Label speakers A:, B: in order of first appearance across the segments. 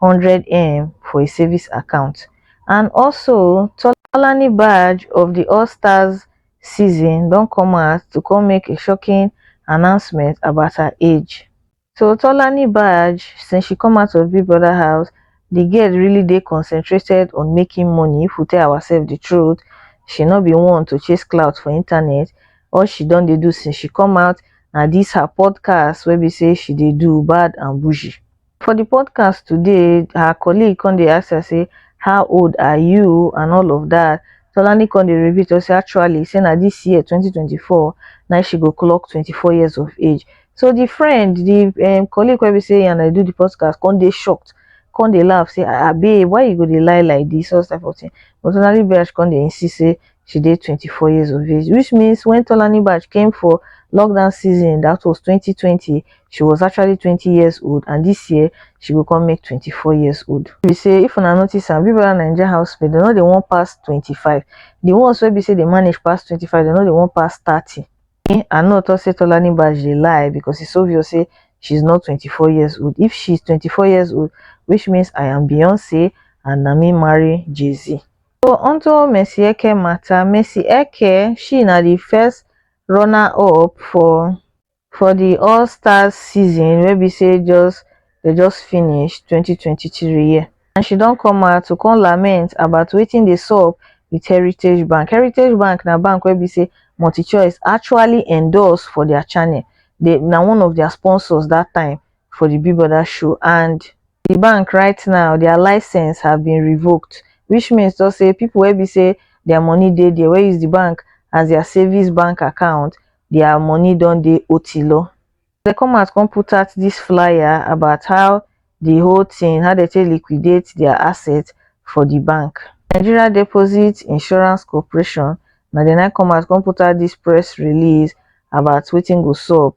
A: hundred m for a savings account and also tolani baj of di all stars season don come out to come make a shocking announcement about her age so tolani baj since she come out of big brother house di girl really dey concentrated on making money if we tell ourselves di truth she no be one to chase clout for internet all she don dey do since she come out na dis her podcast wey be say she dey do bad and bougie For the podcast today, her colleague come dey ask her say, how old are you and all of that. Tolani come dey reveal to say actually say na this year 2024 na she go clock 24 years of age. So the friend, the um, colleague wey be say and I do the podcast come dey shocked, come dey laugh say, ah, ah babe, why you go dey lie like this, all type of thing. But Tolani Biraj come dey insist say She dey 24 years of age, which means when Tolani Baj came for lockdown season, that was 2020, she was actually 20 years old and this year she will come make 24 years old. We say if una notice am, Big Brother Naija housemates, they know they won't pass 25. The ones where we say they manage past 25, they know they won't pass 30. Eh, I know to say Tolani Baj they lie because it's obvious say she's not 24 years old. If she's 24 years old, which means I am Beyonce and Nami marry Jay-Z. so onto mercyeke mata mercyeke she na di first runner up for for di all stars season wey be say just dey just finish twenty twenty three and she don come out to come lament about wetin dey sup with heritage bank heritage bank na bank wey be say multichoice actually endorse for dia channel dey na one of dia sponsors dat time for di big brother show and di bank right now dia license have been revoked which means tok say pipo wey be say dia money dey dia wey use di bank as dia savings bank account dia money don dey otilo dem come out come put out dis flyer about how di whole tin how dem take liquidate dia asset for di bank nigeria deposit insurance corporation na dem na come out come put out dis press release about wetin go sup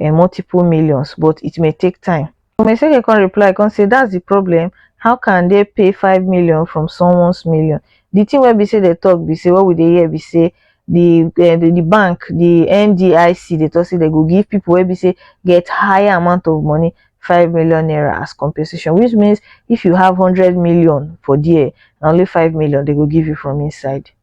A: um multiple millions but it may take time. Omeseke come reply come say that's the problem how can they pay five million from someone's million the thing wey be say they talk be say what we dey hear be say the, uh, the the bank the ndic they talk say they go give people wey be say get higher amount of money five million naira as compensation which means if you have hundred million for there na only five million they go give you from inside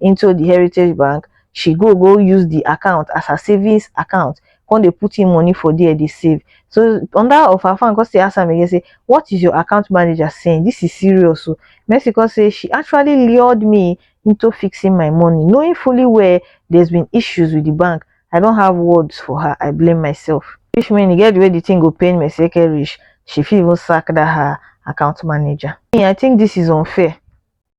A: into the heritage bank she go go use the account as her savings account come dey put in money for there dey save so under of her fan come still ask am again say what is your account manager saying this is serious o oh. mercy come say she actually lured me into fixing my money knowing fully well there's been issues with the bank i don't have words for her i blame myself which mean e get the way the thing go pain mercy eke reach she fit even sack that her account manager me i think this is unfair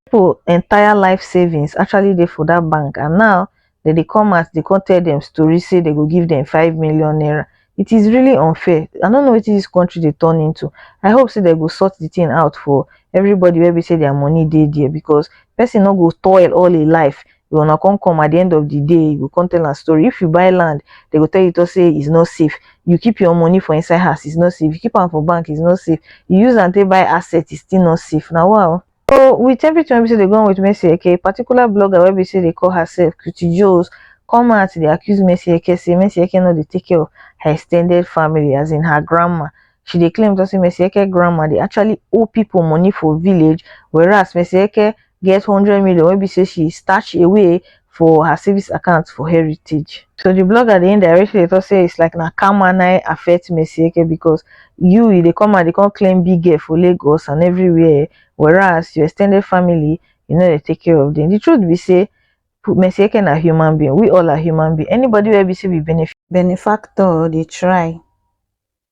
A: people entire life savings actually dey for that bank and now dem dey come out dey come tell dem story say dem go give dem five million naira it is really unfair i no know wetin this country dey turn into i hope say dem go sort the thing out for everybody wey be say their money dey there because person no go toil all im life you una come come at the end of the day you go come tell am story if you buy land they go tell you talk say it's not safe you keep your money for inside house it's not safe you keep am for bank it's not safe you use am take buy asset it's still not safe na wa o So with everything wey be say dey go on with Mercy Eke, a particular blogger wey be say dey call herself Cutie Joes come out dey accuse Mercy Eke say Mercy Eke no dey take care of her extended family as in her grandma. She dey claim say Mercy Eke grandma dey actually owe people money for village whereas Mercy Eke get hundred million wey be say she stash away for her savings account for heritage so the blogger dey indirectly dey talk say it's like na karma na affect Mercy Eke because you you dey come and dey come claim big girl for Lagos and everywhere whereas your extended family you know dey take care of them the truth be say Mercy Eke na human being we all are human being anybody wey be say we benefit benefactor dey try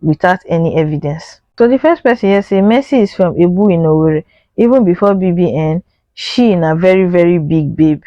A: without any evidence. So di first person here say Mercy is from Ebu in Owerri even before BBN she na very very big babe.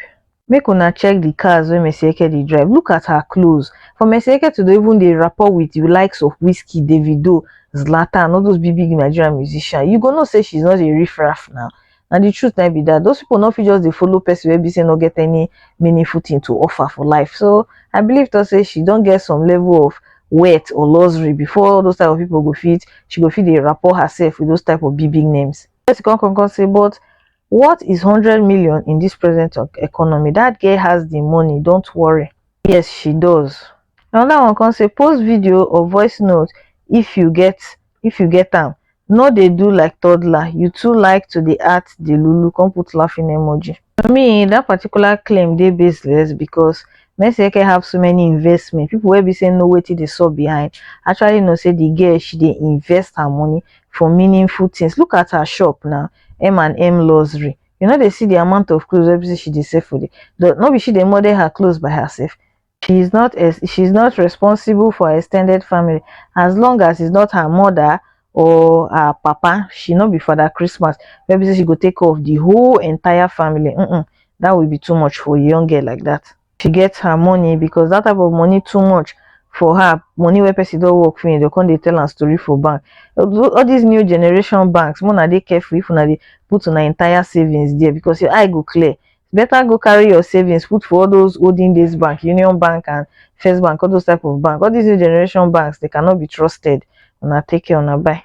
A: Make una check di cars wey Mercy Eke dey drive look at her clothes for Mercy Eke to dey even dey rapport with di likes of Wizkid, Davido, Zlatan all those big big Nigerian musicians you go know say she is not a riff raff now na the truth na be that those people no fit just dey follow person wey be say no get any meaningful thing to offer for life so i believe to say she don get some level of wealth or luxury before all those type of people go fit she go fit dey rapport herself with those type of big big names person come come come say but what is 100 million in this present of economy that girl has the money don't worry yes she does another one come say post video or voice note if you get if you get am no dey do like toddler you too like to dey act the lulu come put laughing emoji for me that particular claim dey baseless because Mesieke have so many investment people wey be say know wetin dey sup behind actually know say the girl she dey invest her money for meaningful things look at her shop now m and m luxury you no dey see the amount of clothes wey be say she dey sell for there no be she dey model her clothes by herself she is not she is not responsible for ex ten ded family as long as it's not her mother or her papa she no be father christmas wey be say she go take care of the whole entire family mm -mm, that will be too much for a young girl like that she gets her money because that type of money too much for her money where person don't work for they come they tell her story for bank all these new generation banks more na they careful if una dey put an entire savings there because your eye go clear better go carry your savings put for all those olden days bank union bank and first bank all those type of bank all these new generation banks they cannot be trusted una take care una bye